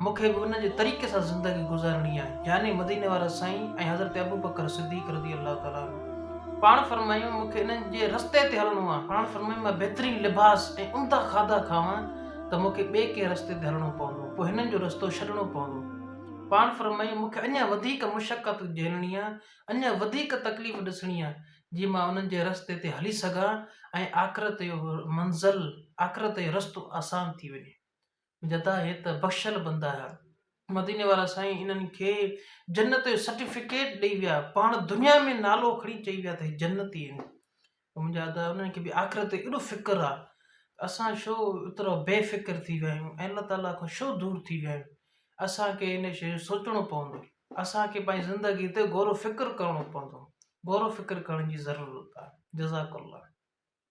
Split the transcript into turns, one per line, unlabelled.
مون کي به ان جي طريقي سان زندگي گذارڻي آهي يعني مديني وارا سائين ۽ حضرت ابوبڪر صديق رضي الله تعالٰي عنه پاڻ فرمايو مون کي انهن جي رستي تي هلڻو آهي پاڻ فرمايو مان بهترين لباس ۽ عمده کاڌا کاوان ته مون کي ٻئي ڪنهن رستي تي هلڻو پوندو پوء هنن جو رستو ڇڏڻو پوندو پاڻ فرمايو مون کي اڃا وڌيڪ مشقت جهلڻي آهي اڃا وڌيڪ تڪليف ڏسڻي آهي جي مان انهن جي رستي تي هلي سگهان ۽ آخرت جو منزل آخرت جو رستو آسان ٿي وڃي جدا هي ته بخشل بندا هي. مديني وارا سائين انهن کي جنت جو سرٽيفڪيٽ ڏئي ويا پاڻ دنيا ۾ نالو کڻي چئي ويا ته هي جنتي آهن منهنجا ادا انهن کي به آخرت تي ايڏو فڪر آ اسان شو ايترا بي فڪر ٿي ويا آهيون الله تعالي کان شو دور ٿي ويا آهيون اسان کي ان شي جو سوچڻو پوندو اسان کي پنهنجي زندگي تي غور و فڪر ڪرڻو پوندو غور و فڪر ڪرڻ جي ضرورت آ جزاڪ الله